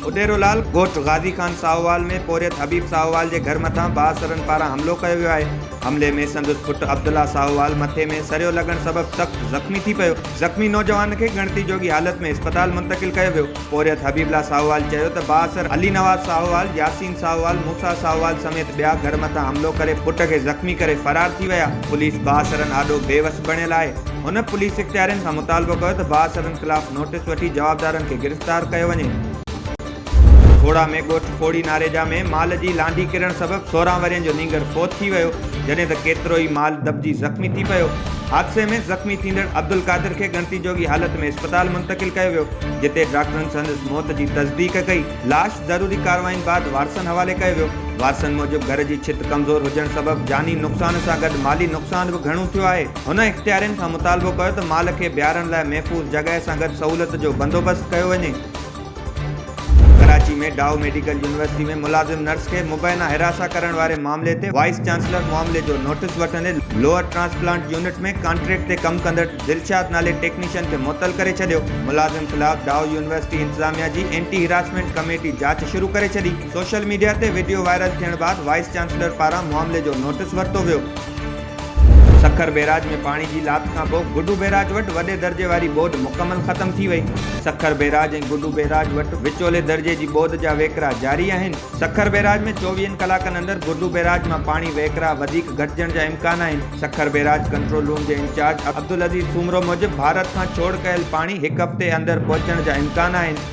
اڏيرو لال ڳوٺ غازي خان ساهووال ۾ پورهيت حبيب ساهووال جي گهر مٿان بااثرن پاران حملو ڪيو ويو آهي. حملي ۾ سندس پٽ عبدالله ساهووال مٿي ۾ سريو لڳڻ سبب سخت زخمي ٿي پيو. زخمي نوجوان کي ڳڻتي جوڳي حالت ۾ اسپتال منتقل ڪيو ويو. پورهيت حبيب الله ساهووال چيو ته بااثر علي نواز ساهووال، ياسين ساهووال، موسيٰ ساهووال سميت ٻيا گهر مٿان حملو ڪري پٽ کي زخمي ڪري فرار ٿي ويا، پوليس بااثرن آڏو بي وس بڻيل آهي، هن پوليس اختيارين کان مطالبو ڪيو ته بااثرن خلاف نوٽيس وٺي جوابدارن کي گرفتار ڪيو وڃي. ڪوڙا ۾ ڳوٺ ڪوڙي ناريجا ۾ مال جي لانڍي ڪرڻ سبب سورهن ورهين جو نينگر فوت ٿي ويو، جڏهن ته ڪيترو ئي مال دٻجي زخمي ٿي پيو. حادثي ۾ زخمي ٿيندڙ عبدالقادر کي ڳڻتي جوڳي حالت ۾ اسپتال منتقل ڪيو ويو، جتي ڊاڪٽرن سندس موت جي تصديق ڪئي. لاش ضروري ڪارروائين بعد وارثن حوالي ڪيو ويو. وارثن موجب گهر جي ڇت ڪمزور هجڻ سبب جاني نقصان سان گڏ مالي نقصان به گهڻو ٿيو آهي. هن اختيارين کان مطالبو ڪيو ته مال کي بيهارڻ لاء محفوظ جڳهه سان گڏ سهولت جو بندوبست ڪيو وڃي. ڪراچي ۾ ڊائو ميڊيڪل يونيورسٽي ۾ ملازم نرس کي مبينا حراسان ڪرڻ واري معاملي تي وائيس چانسلر معاملي جو نوٽيس وٺندي لوئر ٽرانسپلانٽ يونٽ ۾ ڪانٽريڪٽ تي ڪم ڪندڙ دلشاد نالي ٽيڪنيشن کي معطل ڪري ڇڏيو ملازم خلاف ڊائو يونيورسٽي انتظاميا جي اينٽي حراسمينٽ ڪميٽي جاچ شروع ڪري ڇڏي سوشل ميڊيا تي وڊيو وائرل ٿيڻ بعد وائيس چانسلر پاران معاملي جو نوٽيس ورتو ويو. سکر بيراج ۾ پاڻي جي لاٿ کان پوء گڊو بيراج وٽ وڏي درجي واري ٻوڏ مڪمل ختم ٿي وئي. سکر بيراج ۽ گڊو بيراج وٽ وچولي درجي جي ٻوڏ جا وهڪرا جاري آهن. سکر بيراج ۾ چوويهن ڪلاڪن اندر گڊو بيراج مان پاڻي وهڪرا وڌيڪ گهٽجڻ جا امڪان آهن. سکر بيراج ڪنٽرول روم جي انچارج عبدالعزيز سومرو موجب ڀارت کان ڇوڙ ڪيل پاڻي هڪ هفتي اندر پهچڻ جا امڪان آهن.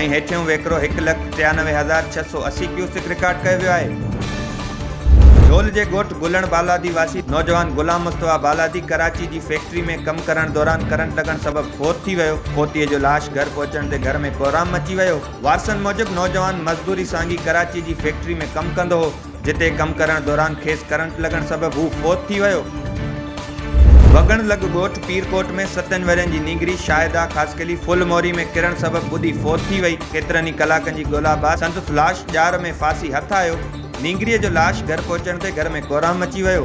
۽ هيٺيون ويڪرو هڪ لک ٽيانوي هزار ڇهه سؤ اسي ڪيوسڪ رڪارڊ ڪيو ويو آهي. جهول جي ڳوٺ گلڻ بالادي واسي نوجوان غلام مصطفيٰ بالادي ڪراچي جي فيڪٽري ۾ ڪم ڪرڻ دوران ڪرنٽ لڳڻ سبب فوت ٿي ويو، فوتيء جو لاش گهر پهچڻ تي گهر ۾ ڪوهرام مچي ويو، وارثن موجب نوجوان مزدوري سانگي ڪراچي جي فيڪٽري ۾ ڪم ڪندو هو. جتي ڪم ڪرڻ دوران کيس ڪرنٽ لڳڻ سبب هو فوت ٿي ويو. وڳڻ لڳ ڳوٺ پيرڪوٽ ۾ ستن ورهين جي نينگري شاهده خاصخيلي ڦل موري ۾ ڪرڻ سبب ٻڏي فوت ٿي وئي، ڪيترن ئي ڪلاڪن جي ڳولا بعد سندس لاش ڄار ۾ ڦاسي هٿ آيو، نينگريء جو لاش گهر پهچڻ تي گهر ۾ ڪورام مچي ويو.